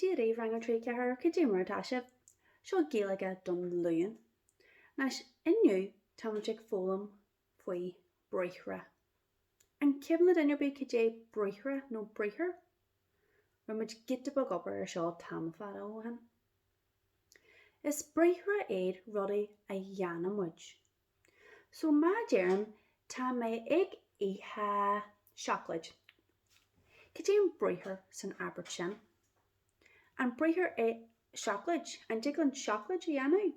Deireadh Rang a Trí Ceathrar Cad é mar atá sibh? Seo Gaeilge don Luan. Anois, inniu táimid ag foghlaim faoi briathra. An cuimhin le duine ar bith cad é briathra nó briathar? Rinne muid giota beag oibre ar seo tamall fada ó shin. Is briathra iad rudaí a dhéanann muid. So má deirim tá mé ag ithe seacláid, cad é an briathar san abairt sin? An briathar í seacláid? An dtig linn seacláid a dhéanamh?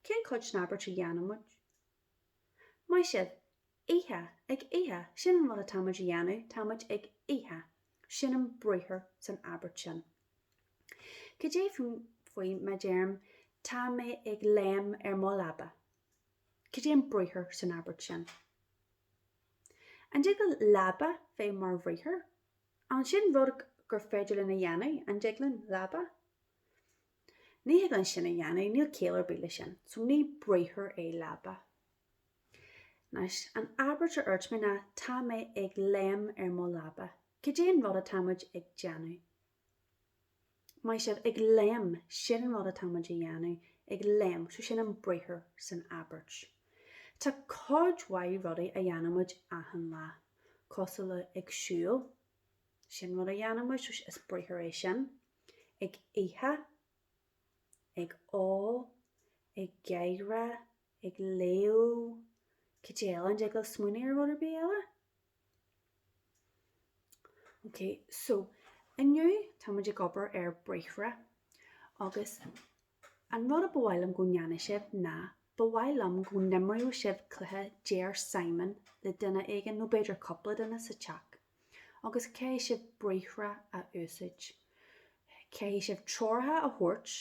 Cén chuid den abairt a dhéanann muid? Maith sibh! Ithe, ag ithe, sin an rud atá muid a dhéanamh, tá muid ag ithe, sin an briathar san abairt sin. Cad é faoi má deirim Tá mé ag léim ar mo leaba? Cad é an briathar san abairt sin? An dtig le leaba bheith mar bhriathar? An sin rud gur féidir linn a dhéanamh, an dtig linn? Leaba? Ní thig linn sin a dhéanamh, níl ciall ar bith le sin, so ní briathar é leaba. Anois, an abairt a dúirt mé ná Tá mé ag léim ar mo leaba. Cad é an rud atá muid ag déanamh? Maith sibh! Ag léim! Sin an rud atá muid a dhéanamh, ag léim. So sin an briathar san abairt. Tá cuid mhaith rudaí a dhéanann muid achan lá. Cosúil le ag siúl. Sin rud a dhéanann muid, so is briathar é sin. Ag ithe. Ag ól. Ag gáire. ag léamh cad eile an dtig libh smaoineamh ar rud ar bith eile. Ok so inniu táimid ag obair ar briathra agus an rud a ba mhaith liom go ndéanadh sibh ná ba mhaith liom go n-imreodh sibh cluiche Deir Simon le duine éigin nó b'fhéidir cúpla duine sa teach agus caithfidh sibh briathra a úsáid. Caithfidh sibh treoracha a thabhairt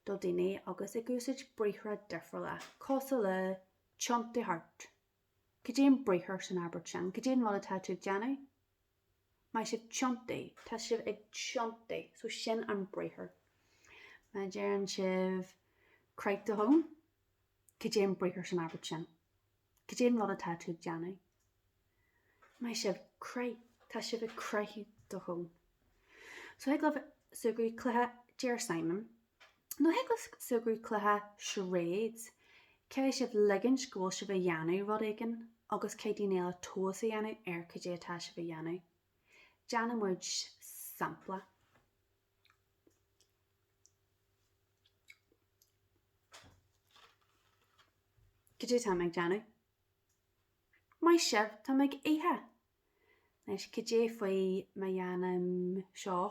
do daoine agus ag úsáid briathra difriúla cosúil le tiontaigh thart, cad é an briathar san abairt sin? cad é an rud atá tú ag déanamh? maith sibh tiontaigh. tá sibh ag tiontaigh, so sin an briathar. má deireann sibh croith do thóin, Cad é an briathar san abairt sin? Cad é an rud atá tú ag déanamh? Maith sibh! Croith! Tá sibh ag croith do thóin. So thig libh súgradh, cluiche, deir Simon. Nó thig libh súgradh, cluiche, charades. Caithfidh sibh ligint go bhfuil sibh a dhéanamh rud éigin agus caithfidh daoine eile tomhas a dhéanamh ar cad é atá sibh a dhéanamh. Déanfaidh muid sampla. Cad é táim ag déanamh. Maith sibh, táim ag ithe! Anois, cad é faoi má dhéanaim seo?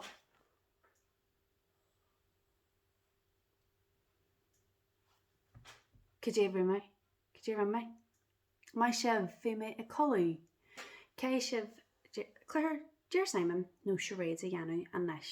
Cad é faoi má. Cad é a rinne mé. Maith sibh! Bhí mé ag codladh! Caithfidh sibh cluiche Deir Síomón nó charades a dhéanamh anois.